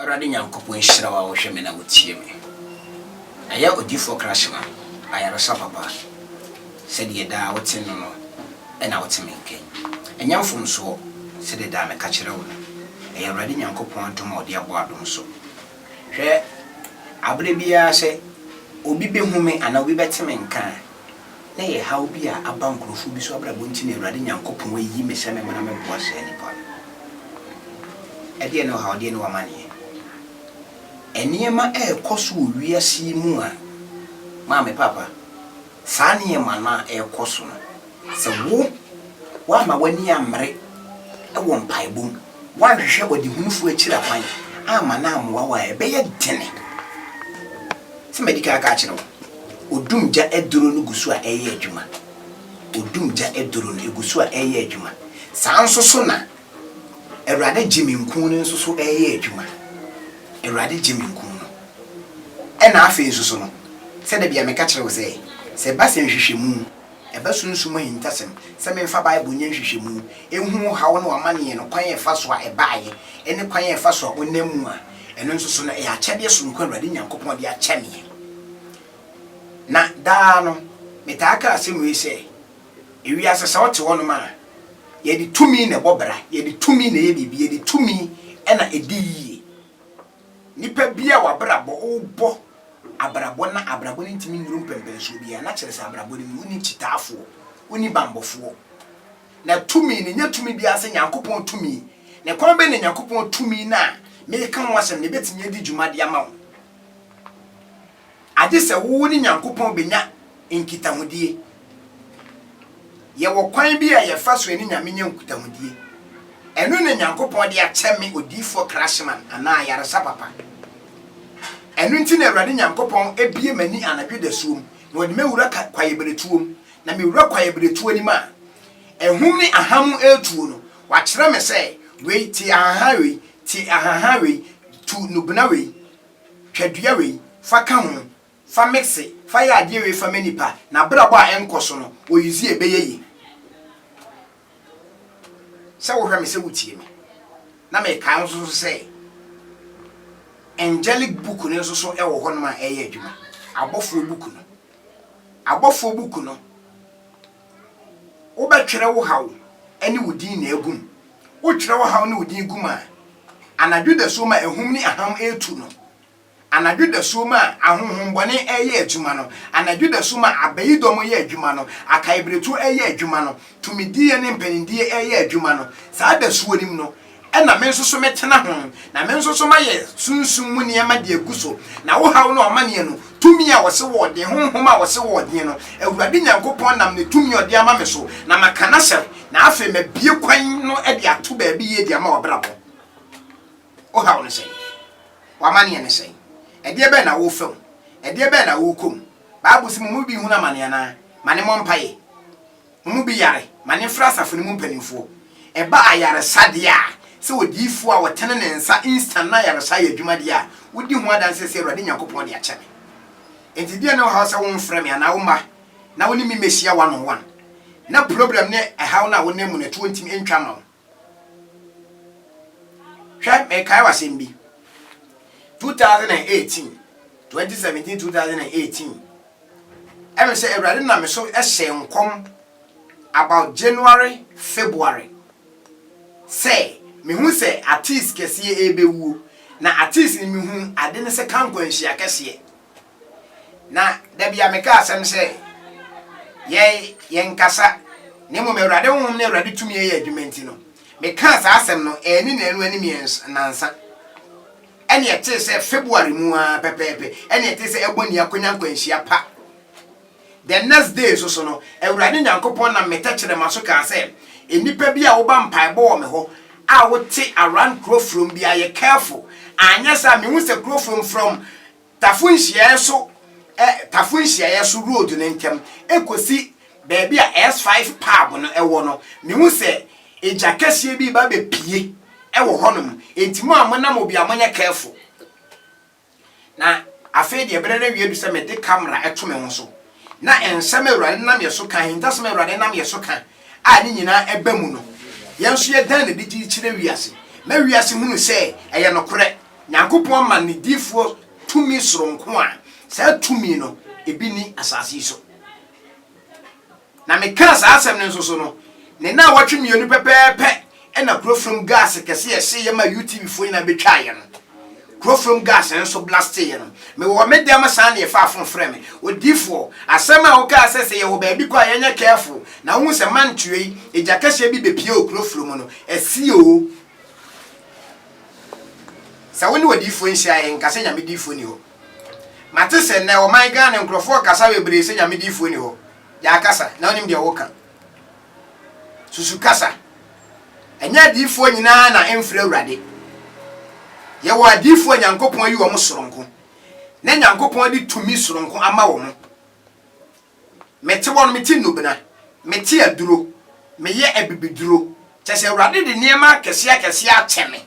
Awurade Nyankopɔn nhyira wo a wohwɛ me na wotie me. Ɛyɛ odiyifoɔ Krashima ayaresa papa a sɛdeɛ daa wote no no na wote me nka yi. Ɛnyɛ mfomsoɔ, sɛdeɛ daa meka kyerɛ wo no, ɛyɛ Awurade Nyankopɔn adom a ɔde abɔ adom so. Hwɛ, aberɛ biara sɛ obi bɛhu me anaa obi bɛte me nka a, na ɛyɛ haw bi a aba nkorɔfoɔ bi so abrabɔ nti na Awurade Nyankopɔn ayi me sɛ memmra mɛboa saa nnipa no. Ɛdeɛn ne ɔhaw, deɛn ne w'amaneɛ? Nneɛma a ɛrekɔ so wɔ wiase yi mu a, maame papa, saa nneɛma no a ɛrekɔ so no, sɛ wo, woamma w'ani ammere wɔ mpaebɔ mu, Woanhwehwɛ ɔdehunufo akyiri akwan amma no ammoa wo a, ɛbɛyɛ den sɛ madi kan aka akyerɛ wo. Odum gya aduro no gu so a ɛreyɛ adwuma. Odum gya aduro no, ɛgu so a ɛreyɛ adwuma. Saa ara nso so na Awurade gye me nkuu no nso so reyɛ adwuma. Awurade gye me nkuu no. Ɛnna afei nso so no, sɛdeɛ bia meka kyerɛ wo sɛ, sɛ ɛba sɛ nhwehwɛmu, Ɛbɛsunsum ahintasɛm sɛ memfa Bible nyɛ nhwehwɛmu, nhunu haw ne w'amanneɛ no kwan a ɛfa so a ɛbaeɛ ne kwan a ɛfa so a ɔnam mu a. Ɛno nso so no, ɛyɛ akyɛdeɛ sononko a Awurade Nyankopɔn de akyɛ me. Na daa no, metaa ka asɛm wei sɛ, Ewiase sɛ ɔte hɔnom a, yɛde tumi na ɛbɔ bra, yɛde tumi na ɛyɛ biribi, yɛde tumi na ɛdi yie. Nipa bi a w'abrabɔ, wobɔ abrabɔ na abrabɔ no ntumi nnuru mpɛmpɛnsoɔ biara, na kyerɛ sɛ abrabɔ no mu, wonni kyitaafoɔ, wonni banbɔfoɔ. Na tumi no, nyɛ tumi biara sɛ Nyankopɔn tumi. Na ɛkwan bɛn na Nyankopɔn tumi no a mereka ho asɛm no bɛtumi adi dwuma de ama wo? Agye sɛ wo ne Nyankopɔn benya nkitahodie. Yɛwɔ kwan bi a yɛfa so ne Nyame nya nkutahodie. Ɛno na Nyankopɔn de akyɛ me Odiyifoɔ Krashman anaa ayaresa papa. Ɛno nti na Awurade Nyankopɔn abue m'ani anadwo dasuo mu na ɔde me awura kwaeɛbiretuo mu. Na me wura kwaeɛbiretuo no mu a ahum ne ahamo retuo no, wakyerɛ me sɛ, Wei, tie ahahan wei, tie ahahan wei, tu nubena wei. Hwɛ dua wei, fa ka ho, fa mixe, fa yɛ adeɛ wei fa ma nipa, n'abrabɔ a ɛnkɔ so no, wɔ use yi a ɛbɛyɛ yie. Sɛ wohwɛ me, sɛ wotie me, na mekae nso so sɛ angelic book no nso so wɔ hɔnom a ɛreyɛ adwuma, abɔfoɔ book no, abɔfoɔ book no. Wobɛtwerɛ wo haw ne wo din na agu mu. Wotwerɛ wo haw ne wo din gu mu a, anadwo dasuo mu a ahum ne aham retu no, anadwo dasuo mu a ahonhommɔne reyɛ adwuma no, anadwo dasuo mu a abayidɔm reyɛ adwuma no, akaeberetuo reyɛ adwuma no, tumidie ne mpaninnie reyɛ adwuma no, saa dasuo no mu no, Ɛnna me nso so mɛtena ho, na me nso so mayɛ sunsum mu nneɛma de agu so, na wo haw ne ɔmanneɛ no, tumi a wɔse wɔɔden, honhom a wɔse wɔɔden no, Awurade Nyankopɔn nam ne tumi a ɔde ama me so, na maka no ahyɛ, na afei mabue kwan no de ato baabi yie de ama w'abrabɔ. Wo haw ne sɛn? W'amanneɛ ne sɛn? Ɛdeɛ bɛn na worefa mu? Ɛdeɛ bɛn na worekɔ mu? Bible se mo mu bi rehunu amane anaa? Ma ne mmɔ mpaeɛ. Wɔn mu bi yare ma ne frɛ asafo no mu mpanimfoɔ. Ɛba ayaresa deɛ a, sɛ odiyifoɔ a ɔtene ne nsa instant na ayaresa yɛ adwuma deɛ a, wodi ho adanseɛ sɛ Awurade Nyankopɔn de akyɛ me. Enti deɛn na ɔhaw sɛ womfrɛ me anaa womma na wo ne me mmɛhyia one on one? Na problem ne ɛhaw no a wonam mu no ɛtoɔ ntimi ntwa mma wo. Hwɛ, mekae wo asɛm bi. 2018, 2017, 2018, ɛmɛ sɛ Awurade nam me so hyɛ nkɔm about January, February sɛ mehu sɛ artiste kɛseɛ ɛrebɛwuo. Na artiste no mehu ade ne sɛ Kankwanhyia kɛseɛ. Na da bi a meka asɛm sɛ, yɛn, yɛnkasa, na mmom Awurade Honhom ne Awurade tumi yɛ adwuma nti no, mekaa saa asɛm no anni nnanu anim yɛ nnansa. Ɛne ɛtee sɛ February mu ara pɛpɛɛpɛ, ɛne ɛtee sɛ ɛbɔ ni akonya nkwanhyia pa. The next day nso so no, Awurade Nyankopɔn nam me tɛkyerɛma so kaa sɛ, nnipa bi a woba mpaebɔ wɔ me hɔ a wote around Kurofrom biara, yɛ careful, anyɛ saa a mehu sɛ Kurofrom from Tafo nhyiaeɛ so ɛ Tafo nhyiaeɛ so road no ntam kɔsi baabi a S five pub no wɔ no, mehu sɛ egya kɛseɛ bi reba abɛpue wɔ hɔnom, enti mo a monam hɔ biara monyɛ careful. Na afei deɛ berɛ no awie adu sɛ mede camera to me ho so. Na nsɛm a Awurade nam yɛn so ka, ahintasɛm a Awurade nam yɛn so ka a ne nyinaa ɛba mu no, yɛn nso yɛdan no adi gye kyerɛ wiase, ma wiase hunu sɛ ɛyɛ nokorɛ. Nyankopɔn ama ne difoɔ tumi soronko a saa tumi no ebi nni asase yi so. Na mekaa saa asɛm no nso so no, ne naawɔtwe mmienu pɛpɛɛpɛ Ɛna kuro fam gas kɛse yɛ hye yɛ ma UTV foɔ nyinaa bɛ twaa yɛ no kuro fam gas nso blastee yɛ no me wɔ me dɛm saa na yɛ faa fon frɛ me odiifoɔ asɛm a wo kaa sɛ sɛ yɛ wɔ baabi kɔ a yɛ nyɛ careful na wo hu sɛ mantua yi egya kɛseɛ bi bɛ pie wɔ kuro fro mu no ɛsi oo sɛ wo ne wɔ diifoɔ nhyia yɛ nka sɛ nyame diifoɔ ni hɔ mate sɛ nɛ wɔ man Ghana nkorɔfoɔ kasa bebree sɛ nyame diifoɔ ni hɔ yɛ akasa na wo nim deɛ wo ka. Susu kasa. Ɛnyɛ adiyifoɔ nyinaa na ɛmfrɛ Awurade. Yɛwɔ adiyifoɔ a Nyankopɔn ayi wɔn soronko, na Nyankopɔn de tumi soronko ama wɔn. Mete hɔ no, mete nnubena, mete aduro, meyɛ abibiduro, kyerɛ sɛ Awurade de nneɛma akɛseakɛseɛ akyɛ me,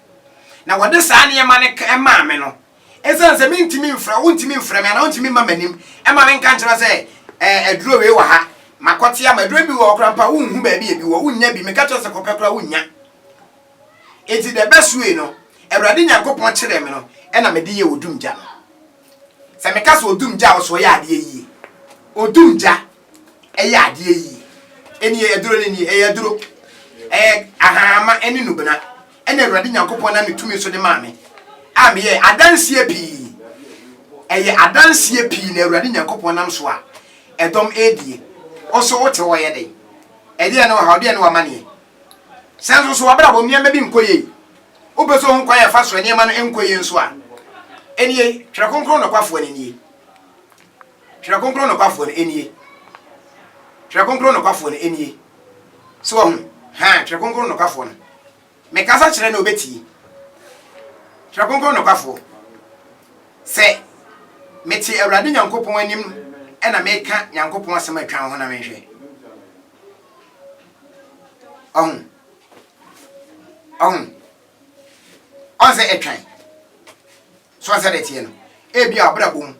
na wɔde saa nneɛma no maa me no, Esiane sɛ mentumi mfrɛ wo, wontumi mfrɛ me, anaa wontumi mma m'anim mma menka nkyerɛ wo sɛ, Ɛɛ, aduro wei wɔ ha, makɔte ama. Aduro no bi wɔ hɔ koraa mpo a, wonhu baabi a ebi wɔ, wonnya bi. Meka kyerɛ wo sɛ kɔpɛ koraa a, wonnya. Enti the best way no, Awurade Nyankopɔn kyerɛɛ me no, ɛna mede yɛɛ odum gya no. Sɛ meka sɛ odum gya a, ɔsɛ ɔyɛ adeɛ yie. Odum gya, ɛyɛ adeɛ yi. Ɛni ɛyɛ duro no ni, ɛyɛ duro. Ɛyɛ ahaama ne nnubena ɛna Awurade Nyankopɔn nam ne tumi so de maa me a meyɛ adanseɛ pii. Ɛyɛ adanseɛ pii na Awurade Nyankopɔn nam so a ɛdɔm ɛredie. Wo so wote hɔ yɛ dɛn? Ɛdeɛ ne ɔhaw, deɛ ne wamaneɛ? Sɛ nso so wabrabɔ mu nneɛma bi nkɔ yie, wopɛ sɛ ohun kwan a ɛfa so nneɛma no nkɔ yie nso a, ɛnie Twerɛ Kronkron nokwafoɔ no nie. Twerɛ Kronkron nokwafoɔ no nie. Twerɛ Kronkron nokwafoɔ no nie. So wahu? Haa, Twerɛ Kronkron nokwafoɔ no. Mekasa kyerɛ no, ɔbɛtie. Twerɛ Kronkron nokwafoɔ. Sɛ mete Awurade Nyankopɔn anim na meka Nyankopɔn asɛm a atwa wo ho na menhwɛ. Ɔho. Ɔho. Ɔnsɛ atwan. So ansa na ɛteɛ no, ebia w'abrabɔ mu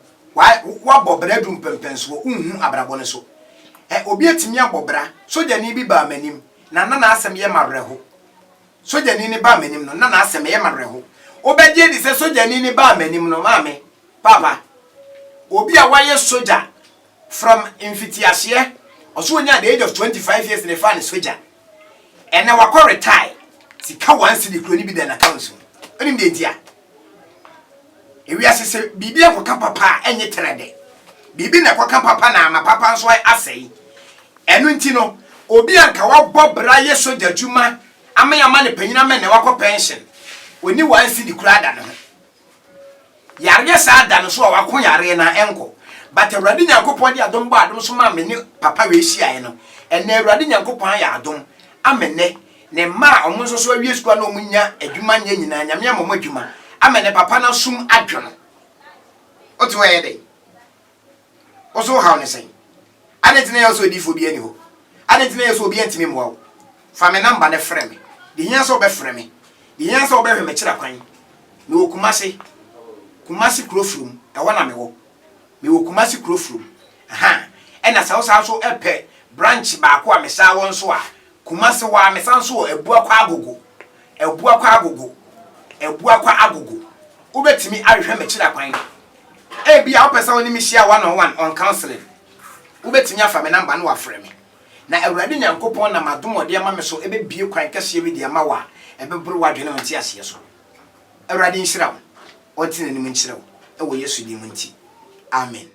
woabɔ bra adu mpɛmpɛnsoɔ, wonhu abrabɔ no so ɛ? Obi atumi abɔ bra, sogyani bi baa m'anim na na n'asɛm yɛ m'awerɛho. Sogyani no baa m'anim no, na n'asɛm ɛyɛ m'awerɛho. Wobɛgye adi sɛ sogyani no baa m'anim no, maame, papa, obi a wayɛ sogya from mfitiaseɛ, ɔso ɔnya at the age of 25 years na ɛfaa no sogya, ɛnɛ wakɔ retire, sika one cedi kura no bi da n'accounts mu. Wonim deɛ nti a? Ewiase sɛ biribi akɔka papa a ɛnyɛ tɛrɛ dɛ. Biribi na ɛkɔka papa na ama papa nso asɛe. Ɛno nti no, obi a nka wabɔ bra yɛ sogya adwuma ama yɛama no panyin ama nnɛ wakɔ pɛnhyen, onni one cedi koraa da ne ho. Yareɛ saa da no so a wako yareɛ no a, ɛnkɔ. But Awurade Nyankopɔn de adom bɔɔ adom so maa me ne papa wei hyiaeɛ no, ɛnnɛ Awurade Nyankopɔn ayɛ adom ama nnɛ Ne mma a wɔn nso so awie sukuu a na wɔn nya adwuma nyɛ nyinaa, Nyame ama wɔn adwuma, ama ne papa no asom adwo no. Wote hɔ ɛyɛ dɛn? Wo so haw ne sɛn? Adɛn nti na ɛyɛ sɛ odiifoɔ bi ani hɔ? Adɛn nti na ɛyɛ sɛ obi antumi mmoa wo? Fa me namba no frɛ me. De hia sɛ wobɛfrɛ me. De hia sɛ wobɛhwɛ me kyerɛ kwan. Mewɔ Kumase. Kumase kuro from. Ɛhɔ na mewɔ. Mewɔ Kumase kuro from. Ahaa. Ɛna sɛ wo saa nso pɛ branch baako a mesaa wɔ nso a, Kumasi hɔ a mesan nso wɔ Abuakwa Agogo, Abuakwa Agogo, Abuakwa Agogo. Wobɛtumi ahwehwɛ m'akyira kwan. Ebia wopɛ sɛ wo ne me hyia one on one on counseling. Wobɛtumi afa me number na wafrɛ me. Na Awurade Nyankopɔn nam adom a ɔde ama me so bɛbue kwan kɛseɛ bi de ama wo a ɛbɛboro w'adwene wo nteaseɛ so. Awurade nhyira wo. Ɔnte n'anim nkyerɛ wo wɔ Yesu din mu nti. Amen.